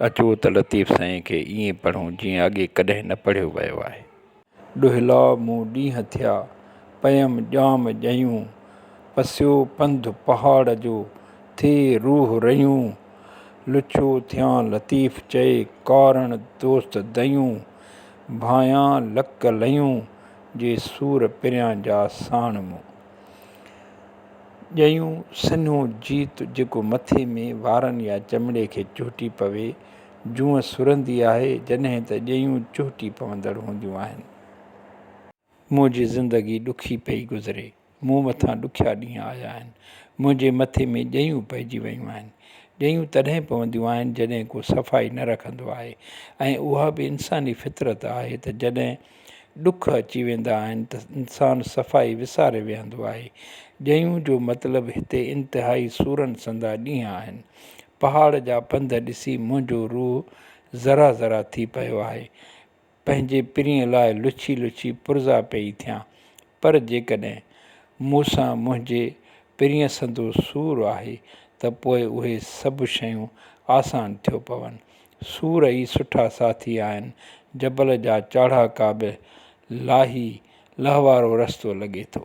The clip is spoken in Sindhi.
اچو ته لطيف سائين کي ائين پڙهون جيئن اڳي ڪڏهن نه پڙهيو ويو آهي. ڏوهيلا مون ڏينهن ٿيا، پيم ڄام ڄيون، پسيو پنڌ پهاڙ جو، ٿئي روح ريون، لڇو ٿيان لطيف چئي، ڪارڻ دوست دئيون، ڀانيان لڪ لئيون. جي سور پريان جا ساڻ مون. ڄيون سنهو جيت جيڪو مٿي ۾ وارن يا چمڙي کي چهٽي پوي، جونء سرندي آهي، جڏهن ته ڄيون چهٽي پوندڙ هونديون آهن. منهنجي زندگي ڏکي پئي گذري. مون مٿان ڏکيا ڏينهن آيا آهن، منهنجي مٿي ۾ ڄيون پئجي ويون آهن. ڄيون تڏهن پونديون آهن جڏهن ڪو صفائي نه رکندو آهي ۽ اها به انساني فطرت آهي ته جڏهن ڏک اچي ويندا آهن ته انسان صفائي وساري ويهندو آهي. ڄيون جو مطلب هتي انتهائي سورن سندا ڏينهن آهن. پهاڙ جا پنڌ ڏسي منهنجو روح ذرا ذرا ٿي پيو آهي. پنهنجي پرينء لاء لڇي لڇي پرزا پئي ٿيان، پر جيڪڏهن مون سان منهنجي پرينء سندو سور آهي ته پوء اهي سڀ شيون آسان ٿيو پون. سور ئي سٺا ساٿي آهن، جبل جا چاڙهاڪا به لاهي لهوارو رستو لڳي ٿو.